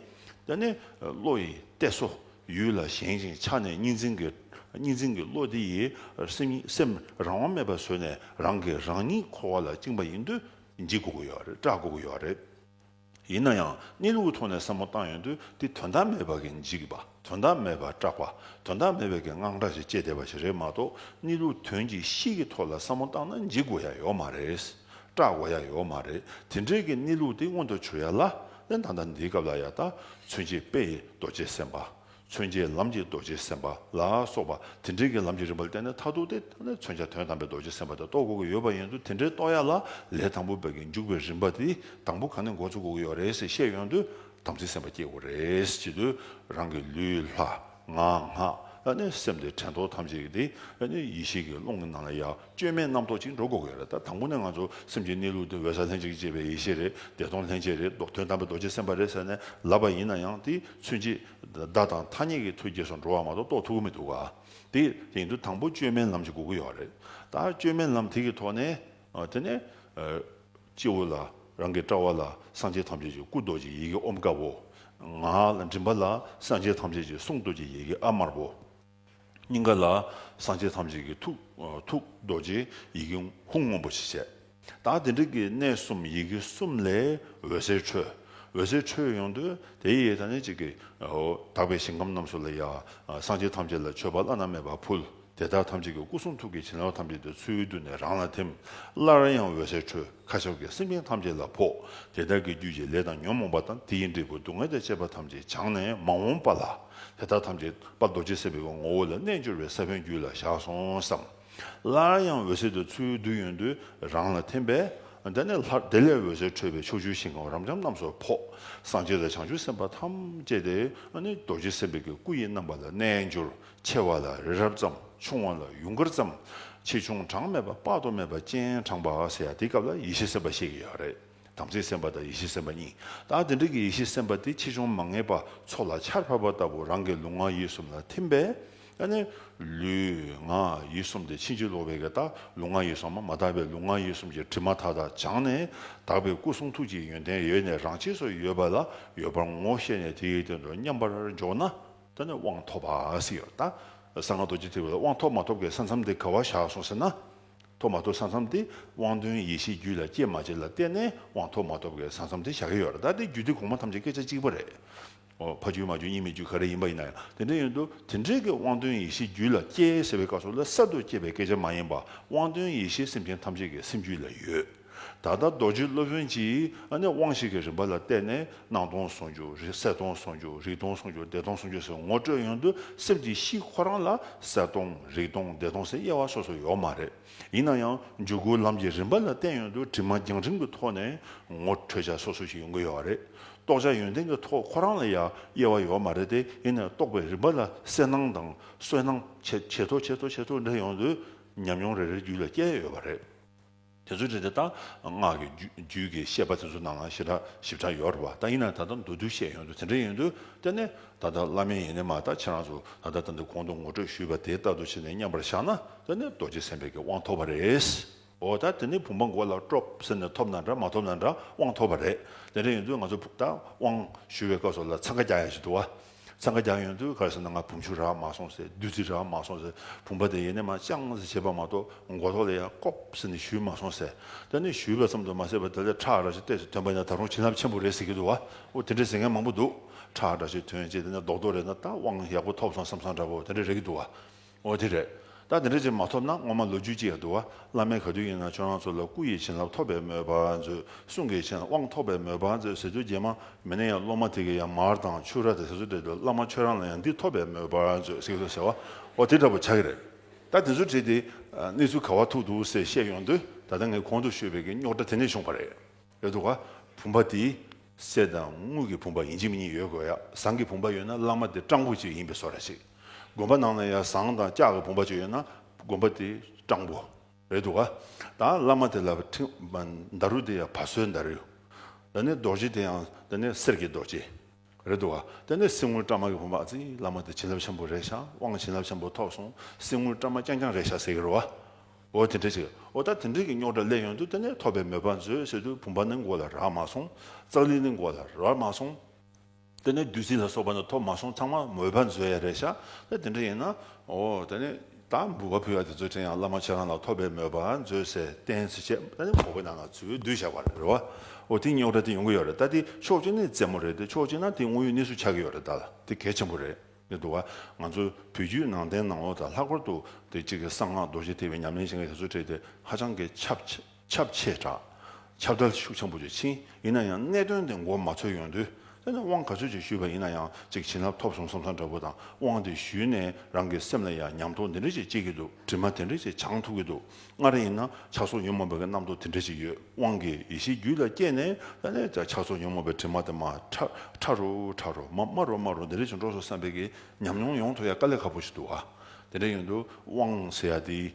འདི་ནི་བློ་ཡི་གཏད་སོ། ཡུལ་ལ་བཞེངས་ཤིང་ཆགས་ནས་གཉིས་འཛིན་གྱི། གཉིས་འཛིན་གྱི་བློ་དེ་ཡིས་སེམས་རང་དབང་མེད་པར་བཟོས་ནས་རང་གིས་རང་ཉིད་འཁོར་བ་ལ་བཅིངས་པ་ཡིན་དུས་འཇིགས་དགོས་ཀྱི་ཡོད་རེད་སྐྲག་དགོས་ཀྱི་ཡོད་རེད། ཡིན་ན་ཡང་གནས་ལུགས་ཐོག་ནས་བསམ་བློ་བཏང་ཡོང་དུས་དེ་དོན་དག་མེད་པ་གིས་འཇིགས་པ་དོན་དག་མེད་པར་སྐྲག་པ་དོན་དག་མེད་པ་གིས་དངངས་སྐྲག་ཅིག་སྐྱེས་བསྡད་པ་ཞིག་རེད་མ་གཏོགས་གནས་ལུགས་དོན་གྱི་གཤིས་ཀྱི་ཐོག་ལ་བསམ་བློ་བཏང་ན་འཇིགས་དགོས་ཡ་ཡོད་མ་རེད། སྐྲག་གོ་ཡ་ཡོད་མ་རེད་དེ་འདྲས་ཀྱི་གནས་ལུགས་དེ་མངོན་དུ་བྱུང་ཡ་ལ་ནི་ད་ལྟ་འདིའི་སྐབས་ལ་ཡ་ད་མཚོན་བྱེད་དཔེ་ཡི་རྡོ་རྗེ་སེམས་དཔའ་མཚོན་བྱེད་ལམ་གྱི་རྡོ་རྗེ་སེམས་དཔའ་ལ་སོགས་པ་དེ་འདྲས་ཀྱི་ལམ་གྱི་རིམ་པ་ལ་བརྟེན་ནས་མཐར་ཐུག་དེ་ད་ནི་མཚོན་བྱ་དོན་དམ་པའི་རྡོ་རྗེ་སེམས་དཔའ་དེ་རྟོགས་དགོས་ཀྱི་ཡོད་པ་ཡིན་དུས་དེ་འདྲས་རྟོགས་ཡ་ལ་ལས་དང་པོ་བས་ཀྱི་འཇུག་པའི་རིམ་པ་དེ་དང་པོ་གང་ནས་འགོ་ཚུགས་དགོས་ཀྱི་ཡོད་རེད་ཟེར་བཤད་ཡོང་དུས་དམ་ཚིག་སེམས་དཔའ་སྐྱེ་དགོས་རེད་ཅེས་དུས་རང་གི་ལུས་ལྷ། ངག་སྔགས་ནི་སེམས་ཏེ་དྲན་རྟོག་ཐམས་ཅད་ཀྱི་དེ་ནི་ཡེ་ཤེས་ཀྱི་ཀློང་གི་ནང་ལ་ཡང་བཅོས་མའི་རྣམ་རྟོག་ཅིག་འགྲོ་དགོས་གལ་ལ་ད་དང་པོ་ནས་ང་ཚོ་སེམས་ཀྱི་གནས་ལུགས་དེ་འོད་གསལ་ལྷན་ཅིག་སྐྱེས་པའི་ཡེ་ཤེས་རེད་བདེ་སྟོང་ལྷན་སྐྱེས་རེད་དོན་དམ་པའི་རྡོ་རྗེ་སེམས་དཔའ་རེད་ཟེར་ནས་ལབ་པ་ཡིན་ན་ཡང་དེ་ཚུན་ཆད་བདག་དང་ཐ་སྙད་ཀྱི་ཐོལ་སྐྱེས་སུ་འགྲོ་བ་མ་གཏོགས་རྟོགས་ཐུབ་ཀྱི་མི་འདུག་ག་དེ་ཡིན་དུས་དང་པོ་བཅོས་མའི་ལམ་ཞིག་དགོས་ཀྱི་ཡོད་རེད་ད་བཅོས་མའི་ལམ་དེ་གི་ཐོག་ནས་དེ་ནས། སྤྱི་བོ་ལ་རང་གི་ཀྲྀ་བ་ལ་སངས་རྒྱས་ཐམས་ཅད་ཀྱི་སྐུ་རྡོ་རྗེ་ཡི་གེ་ཨོམ་དཀར་བོ། ངག་ལ་མགྲིན་པ་ལ་སངས་རྒྱས་ཐམས་ཅད་ཀྱི་གསུང་རྡོ་རྗེ་ཡི་གེ་ཨ་དམར་བོ། སྙིང་ག་ལ་སངས་རྒྱས་ཐམས་ཅད་ཀྱི་ཐུགས་རྡོ་རྗེ་ཡི་གེ་ཧཱུྃ་སྔོན་པོ་ཞེས་བྱ། དང་དེ་འབྲེལ་གྱི་གནས་གསུམ་ཡི་གེ་གསུམ་ལས་འོད་ཟེར་འཕྲོས། འོད་ཟེར་འཕྲོས་ཡོང་དུས་དེའི་ཡེ་ཐ་ནི་གཅིག་གིས་དག་པའི་ཞིང་ཁམས་རྣམས་སུ་ལ་ཡང་སངས་རྒྱས་ཐམས་ཅད་ལ་མཆོད་པ་བླ་ན་མེད་པ་ཕུལ། དེ་དག་ཐམས་ཅད་ཀྱི་སྐུ་གསུང་ཐུགས་ཀྱི་བྱིན་རླབས་ཐམས་ཅད་དུ་ཚུར་བསྡུ་ནས་རང་ལ་ཐིམ། སླར་ཡང་འོད་ཟེར་འཕྲོས་མཁའ་ཁྱབ་ཀྱི་སེམས་ཅན་ཐམས་ཅད་ལ་ཕོག་དེ་དག་གི་རྒྱུད་ཀྱི་ལས་དང་ཉོན་མོངས་པ་དང་དེ་ཡི་འབྲས་བུ་སྡུག་བསྔལ་དང་བཅས་པ་ཐམས་ཅད་བྱང་ནས་མ་འོངས་པ་ལ་དེ་དག་ཐམས་ཅད་པ་རྡོ་རྗེ་སེམས་དཔའི་ངོ་བོ་ལ་རྣལ་འབྱོར་བའི་ས་བོན་རྒྱུད་ལ་བཞག་སོང་བསམ། སླར་ཡང་འོད་ཟེར་དུ་ཚུར་བསྡུ་ཡོན་དུ་རང་ལ་ཐིམ་པས། དེ་ནས་ལྷར་དེ་ལས་འོད་ཟེར་འཕྲོས་པས་ཕྱོགས་བཅུའི་ཞིང་ཁམས་རབ་འབྱམས་རྣམས་སུ་ཕོག། སངས་རྒྱས་དང་བྱང་ཆུབ་སེམས་དཔའ་ཐམས་ཅད་དེ་ནི་རྡོ་རྗེ་སེམས་དཔའི་སྐུ་ཡི་རྣམ་པ་ལ་རྣལ་འབྱོར་ཆེ་བ་ལ་རི་རབ་ཙམ་ཆུང་བ་ལ་ཡུངས་དཀར་ཙམ་ཆེ་ཆུང་གྲངས་མེད་པ་དཔག་ཏུ་མེད་པ་སྤྱན་དྲངས་པ་ཟེར་ཡ་དེའི་སྐབས་ལ་ཡེ་ཤེས་སེམས་པ་ཤེས་ཀྱི་ཡོད་རེད་དམ་ཚིག་སེམས་པ་དང་ཡེ་ཤེས་སེམས་པ་གཉིས་དང་དེ་འདྲ་གི་ཡེ་ཤེས་སེམས་པ་དེ་ཆེ་ཆུང་མ་ངེས་པ་ཚོགས་ལ་ཆར་ཕབ་པ་ལྟ་བུ་རང་གི་ལུས་ངག་ཡིད་གསུམ་ལ་ཐིམ་པས་ཡང་ནི་ལུས་ངག་ཡིད་གསུམ་དེ་ཕྱིན་ཅི་ལོག་པའི་གེ་དག་ལུས་ངག་ཡིད་གསུམ་མ་དག་པའི་ལུས་ངག་ཡིད་གསུམ་གྱི་དྲི་མ་མཐའ་དག་བྱང་ནས་དག་པའི་སྐུ་གསུང་ཐུགས་ཀྱི་ཡོན་ཏན་ཡོད་ནས་རང་ཆས་སུ་ཡོད་པ་ལ་ཡོད་པར་ངོ་ཤེས་ནས་དེའི་དོན་དུ་མཉམ་པར་འཇོག་ན། ད་ནི་དབང་ཐོབ་བསྲིས་ཡོད། གསང་སྔགས་རྡོ་རྗེ་ཐེག་པའི་དབང་ཐོབ་མ་ཐོབ་ཀྱི་ས་མཚམས་དེ་ག་བར་བཞག་སོང་ཟེར་ན། ཐོབ་མ་ཐོབ་ས་མཚམས་དེ་དབང་དོན་ཡེ་ཤེས་རྒྱུད་ལ་སྐྱེས་མ་སྐྱེས་ལ་བལྟས་ནས་དབང་ཐོབ་མ་ཐོབ་ཀྱི་ས་མཚམས་དེ་བཞག་གི་ཡོད། དེ་རྒྱུད་སྡེ་གོང་མ་ཐམས་ཅད་སྐད་ཆ་གཅིག་པ་རེད། ཕ་རྒྱུད་མ་རྒྱུད་གཉིས་མེད་རྒྱུད་ག་རེ་ཡིན་པ་ཡིན་ན་ཡང་དེ་འདྲ་ཡིན་དུ་དེ་འདྲས་ཀྱི་དབང་དོན་ཡེ་ཤེས་རྒྱུད་ལ་སྐྱེས་ཟེར་བའི་བཀའ་སྲོལ་ལ་གསར་དུ་སྐྱེས་པའི་སྐད་ཆ་མ་ཡིན་པ་དབང་དོན་ཡེ་ཤེས་སེམས་ཅན་ཐམས་ཅད་ཀྱི་སེམས་རྒྱུད་ལ་ཡོད། ད་ལྟ་རྡོ་རྗེ་སློབ་དཔོན་གྱིས་ནི་དབང་ཞིག་གི་རིམ་པ་ལ་བལྟས་ནས་སྣང་སྟོང་ཟུང་འཇུག་རེད་གསལ་སྟོང་ཟུང་འཇུག་རིག་སྟོང་ཟུང་འཇུག་བདེ་སྟོང་ཟུང་འཇུག་ཟེར་ངོ་སྤྲོད་ཡོང་དུས་སེམས་ཀྱི་གཤིས་ཁོ་རང་ལ་གསལ་སྟོང་རིག་སྟོང་བདེ་སྟོང་ཟེར་དབྱེ་བ་སོ་སོ་ཡོད་མ་རེད། ཡིན་ན་ཡང་འཇུག་སྒོའི་ལམ་གྱི་རིམ་པ་ལ་བལྟས་ཡོང་དུས་དྲི་མ་རྒྱང་རིང་གི་ཐོག་ནས་ངོ་འཕྲོད་བྱ་སོ་སོ་ཞིག་ཡོང་གི་ཡོད་རེད། རྟོགས་བྱ་ཡོན་ཏན་གྱི་ཐོག་ཁོ་རང་ལ་ཡང་དབྱེ་བ་ཡོད་མ་རེད་དེ་ཡིན་ནས་རྟོགས་པའི་རིམ་པ་ལ་གསལ་སྣང་དང་སོལ་སྣང་ཇེ་མཐོ་ཇེ་མཐོ་ཇེ་མཐོ་འགྲོ་ཡོང་དུས་ཉམས་མྱོང་རེ་རེ་རྒྱུད་ལ་སྐྱེ་ཡོད་པ་རེད། དེ་ཚོའི་རིགས་དེ་དང་སྔགས་ཀྱི་རྒྱུད་ཀྱི་བཤད་པ་དེ་ཚོ་རྣམས་ལའང་ཞིབ་ཕྲ་ཞིབ་ཕྲ་ཡོད་རེད་བ་ད་ཡིན་ནའང་ད་ལྟ་མདོར་བསྡུས་བཤད་ཡོང་དུས་དེ་འདྲ་ཡིན་དུས་དེ་ནི་ད་ལྟ་བླ་མའི་ཡིན་ནི་མ་གཏགས་ཁྱེད་རང་ཚོ་ད་ལྟ་ད་ནི་གོང་དུ་ངོ་སྤྲོད་ཞུས་པ་དེ་ལྟར་དུ་བྱས་ནས་མཉམ་པར་བཞག་ན་དེ་ནི་རྡོ་རྗེ་སེམས་དཔའི་གི་དབང་ཐོབ་པ་རེད། འོ་ད་དེ་ནི་བུམ་པ་མགོ་ལ་དཀྲོབ་ཟེར་ནས་ཐོབ་ན་འདྲ་མ་ཐོབ་ན་འདྲ་དབང་ཐོབ་པ་རེད་དེ་འདྲ་ཡིན་དུས་ང་ཚོ་ད་དབང་ཞུ་བའི་སྐབས་སོགས་ལ་འཚང་ཁ་རྒྱག་ཡ་ཞིག་འདུག་བ། ཚང་ག་རྒྱག་ཡོང་དུས་ག་ཟེ་ན་ང་བུམ་ཆུ་རག་མ་སོང་ཟེར་བདུད་རྩི་རག་མ་སོང་ཟེར་བུམ་པ་དེ་ཡེ་ནས་མ་བཅང་ཟེར་བྱས་པ་མ་གཏོགས་མགོ་ཐོག་ལ་ཡང་ལྐོག་ཟེར་ནས་ཞུས་མ་སོང་ཟེར་ད་ནི་ཞུས་པ་ཙམ་དུ་མ་ཟད་པར་ད་ལྟའི་ཁྲག་ར་ཆུ་གཏེར་སུ་ཐོན་པ་ཡང་ད་རུང་བྱིན་རླབས་ཆེན་པོ་རེད་ཟེར་གྱི་འདུག་བ་དེ་འདྲའི་ཟེར་མཁན་མང་པོ་འདུག་ཁྲག་ར་ཆུ་ཐོན་ཅེས་དེ་ནས་རྡོག་རྡོག་རེད་ན་ད་དབང་ཡག་པོ་ཐོབ་སོང་བསམ་སང་འདྲ་བོ་དེ་འདྲ་རེད་གི་འདུག་བ། འོ་དེ་རེད། ད་དེ་འདྲ་ཅིག་མ་ཐོབ་ན་སྔོན་མ་ལོ་རྒྱུས་ཅིག་ཡང་བསྡུ། བླ་མའི་ག་དུས་ཡིན་ན་ཁྱོད་རང་ཚོ་ལ་སྐུ་ཡི་བྱིན་རླབས་ཐོབ་པའི་མོས་པ་མཛོད། གསུང་གི་བྱིན་དབང་ཐོབ་པའི་མོས་པ་མཛོད་ཟེར་དུས་རྗེས་མ་མི་ནས་ཡང་སློབ་མ་དེ་གིས་ཡང་མར་དང་ཕྱུར་ར་དེ་ཟེར་ཚུལ་བྲིས་འདུག་བླ་མ་ཁྱོད་རང་ལ་ཡང་འདི་ཐོབ་པའི་མོས་པ་མཛོད་གསུངས་སོང་ཟེར་བ། འོ་དེ་འདྲ་པོ་ཆགས་ཀྱི་རེད། ད་དེ་ཚོ་བྲིས་ཏེ་གནས་ཚུལ་ག་བ་ཐུག་འདུག་ཟེར་བཤད་ཡོང་དུས་ད་ལྟ་ངས་གོང་དུ་ཤོད་པའི་གི་རྙོག་དྲ་དེ་ནས་བྱུང་བ་རེད། ཡོད་དོ། བུམ་པ་དེ། གསེར་དང་དངུལ་གྱི་བུམ་པ་ཡིན་གཅིག་མིན་གཉིས་ཡོད་དགོས་ཡ། ཟངས་ཀྱི་བུམ་པ་ཡོད་ན་བླ་མ་དེ་སྤྲང་པོ་གཅིག་ཡིན་པས་སོ་ར་ཅིག། དགོན་པ་ནང་ན་ཡང་ཟངས་དང་ལྕགས་ཀྱི་བུམ་པ་ཅིག་ཡོད་ན་དགོན་པ་དེ་སྤྲང་པོ། རེད་དོ། ད་བླ་མ་དེ་ལ་མདའ་རུ་དེ་ཡང་བ་སོའི་མདའ་རུ། ད་ནི་རྡོ་རྗེ་དེ་ཡང་ད་ནི་གསེར་གྱི་རྡོ་རྗེ། རེད་འདུག་ག་དེ་ནས་སྲིང་མོ་བཀྲ་མ་གི་བུ་མ་ཙི་བླ་མ་དེ་བྱིན་རླབས་ཆེན་པོ་རེད་ཤག་དབང་བྱིན་རླབས་ཆེན་པོ་ཐོབ་སོང་སྲིང་མོ་བཀྲ་མ་རྐྱང་རྐྱང་རེད་ཤག་ཟེར་གི་རོ་འོ་དེ་འདྲས་ཅིག་འོ་ད་དེ་འདྲས་ཀྱི་རྙོག་དྲ་ལས་ཡོང་དུས་དེ་ནས་ཐོབ་པའི་མོས་པ་མཛོད་ཟེར་དུས་བུམ་པ་ནི་མགོ་ལ་རག་མ་སོང་ཙག་ལི་ནི་མགོ་ལ་རག་མ་སོང་དེ་ནས་བདུད་རྩི་ལ་སོགས་པ་ནི་ཐོབ་མ་སོང་ཚང་མ་མོས་པ་མཛོད་ཡ་རེད་ཤག་ད་དེ་འདྲས་ཡིན་ན་འོ་དེ་ནས། དང་འབུལ་བ་ཕུལ་བ་དེ་ཚོའི་ཕྲིན་ཡང་བླ་མ་ཁྱེད་རང་ལ་ཐོབ་པའི་མོས་པ་མཛོད་ཟེར་བསྟན་ཚེ་ཆད་མེད་ནས་ངོ་བོ་ནང་ན་ཚུར་བསྡུས་བྱ་བར་རེ་བ། འོ་དེ་རྙོག་དྲ་དེ་ཡོང་གི་ཡོད་རེད་ད་དེ་ཕྱོགས་གཅིག་ནས་རྩེད་མོ་རེད་དེ་ཕྱོགས་གཅིག་ན་དེ་དངོས་ཡོད་གནས་ཚུལ་ཆགས་ཀྱི་ཡོད་རེད་ད་ལ་དེ་གལ་ཆེན་པོ་རེད་འདུག་བ། ང་ཚོ་བོད་བརྒྱུད་ནང་བསྟན་ནང་ལོགས་དང་ལྷག་པར་དུ་དེ་གཅིག་གི་གསང་སྔགས་རྡོ་རྗེ་ཐེག་པའི་ཉམས་ལེན་བྱེད་མཁན་དེ་ཚོའི་གྲས་དེ་ཧ་ཅང་གི་ཁྱབ་ཆེ། ཁྱབ་ཆེ་དྲགས། ཁྱབ་བརྡལ་ཤུགས་ཆེན་པོ་ཆེ་ཕྱིན། ཡིན་ན་ཡང་གནད་དོན་དེ་མགོ་མ་འཚོས་ཡོང་དུས། དེ་ནི་དབང་ག་ཚོད་ཅིག་ཞུས་པ་ཡིན་ན་ཡང་ཅིག་བྱིན་རླབས་ཐོབ་སོང་བསམ་བསམ་འདྲ་བོ་དང་དབང་དེ་ཞུས་ནས་རང་གི་སེམས་ལ་ཡང་ཉམས་རྟོགས་འདི་འདྲ་ཅིག་སྐྱེས་ཀྱི་འདུག་དྲི་མ་དེ་འདྲ་ཅིག་བྱང་ཐུབ་ཀྱི་འདུག་སྔར་ཡིན་ན་ཆགས་སོགས་ཉོན་མོངས་པའི་རྣམ་རྟོག་དེ་འདྲ་ཅིག་ཡོད་དབང་གིས་ཡེ་ཤེས་རྒྱུད་ལ་སྐྱེས་ནས་ད་ནས་ཀྱང་ཆགས་སོགས་ཉོན་མོངས་པའི་དྲི་མ་དེ་མ་ཕྲ་རུ་ཕྲ་རུ་མ་དམའ་རུ་དམའ་རུ་འདི་འདྲ་ཅིག་འགྲོ་སོང་བསམ་པའི་གི་ཉམས་མྱོང་ཡོང་ཐུབ་ཡ་དཀའ་ལས་ཁ་པོ་ཞིག་འདུག་བ། དེ་འདྲ་ཡིན་དུས་དབང་ཟེར་ཡ་འདི།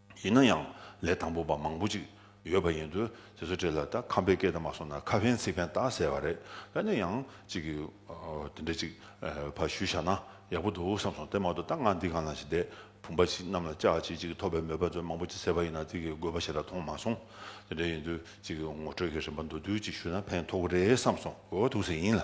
ཡིན་ན་ཡང་ལས་དང་པོ་པ་མང་པོ་ཅིག་ཡོད་པ་ཡིན་དུས་དེ་ཚོ་བྲིས་ལ་ད་ཁམས་པའི་སྐད་དང་མ་སོང་ན་ཁ་ཕན་ཚིག་ཕན་ཏག་ཟེར་བ་རེད་ད་ནས་ཡང་ཅིག་གི་དེ་འདྲ་ཅིག་བ་ཞུ་བཞག་ན་ཡག་པོ་འདུག་བསམ་སོང་དེ་མ་གཏོགས་ད་ང་འདི་གང་ལ་ཞིག་བསྡད་བུམ་པ་ཞིག་གནམ་ལ་བཅག་བྱེད་ཅིག་ཐོབ་པའི་མོས་པ་ཚོད་མང་པོ་ཅིག་ཟེར་བ་ཡིན་ན་དེ་གི་དགོས་པ་ཞིག་ལ་མཐོང་མ་སོང་དེ་འདྲ་ཡིན་དུས་ཅིག་གི་ངོ་སྤྲོད་ཀྱི་རིན་པ་མདོ་བསྡུས་ཅིག་ཞུ་ན་ཕན་ཐོགས་གི་རེད་བསམ་སོང་འོ་ཐུགས་ཟིན་ཡིན་ལ།